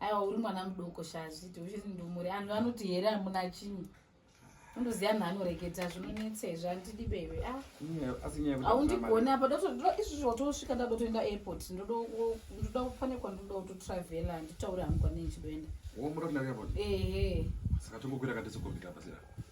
aiwa uri mwana mudoko shazviti uchiri ndumuri anhu anoti here amuna chinyi undoziva anhu anoreketa zvinonetsa izvi andidi bebe ah. aundigoni apa izvozvo watosvika nda dotoenda airport ndoda kufanekwa ndoda kutotravela nditaure hangu kwanei chidoenda ehe saka tongokwira katese kombita pasira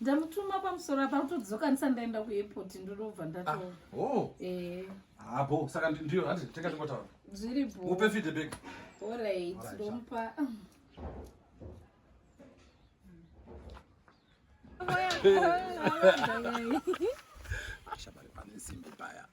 ndamutuma pamusoro apa utodzokanisa ndaenda kuairport ndinobva ndatoa ah, oh. eh. hapo ah, saka ndiyo hanzi tenga tingotaura zviri bo upe feedback allright ndomupa Shabari pane simbi paya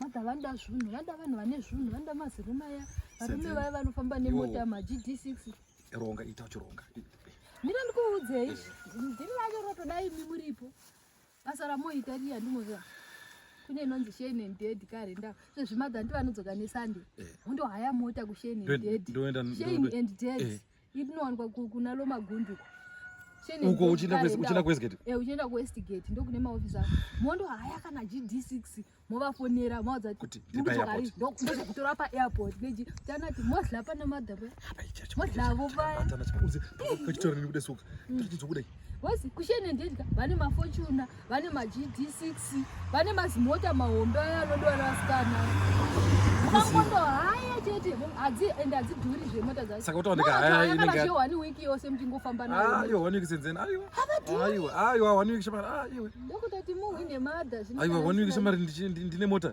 mada vanoda zvinhu vanoda vanhu vane zvinhu vanoda mazirume aya varume vaya vanofamba nemota magd six ronga ita uchironga ndira ndikuudzei ndiri vacho rotodai mi muripo basa ramoita riya ndimoziva kune inonzi shane and dead kare nda sezvimadha ndivanodzoka nesande eh. undohaya mota kushane and dead shane and dead eh. Inowanikwa kuna Loma Gundu uko uchienda kuwestgate eh uchienda kuwestgate ndokune maofisi ako mondo haya kana gd6 movafonera maudza kuti ndokutora paairport neji tanati modla pana madhaba modlavo paya Wesi kushene ndedya vane mafortuna vane magd6 vane mazimota mahombe aya anodwara vasikana makondo haya chete hadzi and hadzidhuri zvemota dzasaka utaoneka haya inenge yo one week yose mtingofamba nayo ah yo one week senzeni ayo ayo ayo one week shamari ayo ndokutati muhwine mother zvino ayo one week shamari ndine mota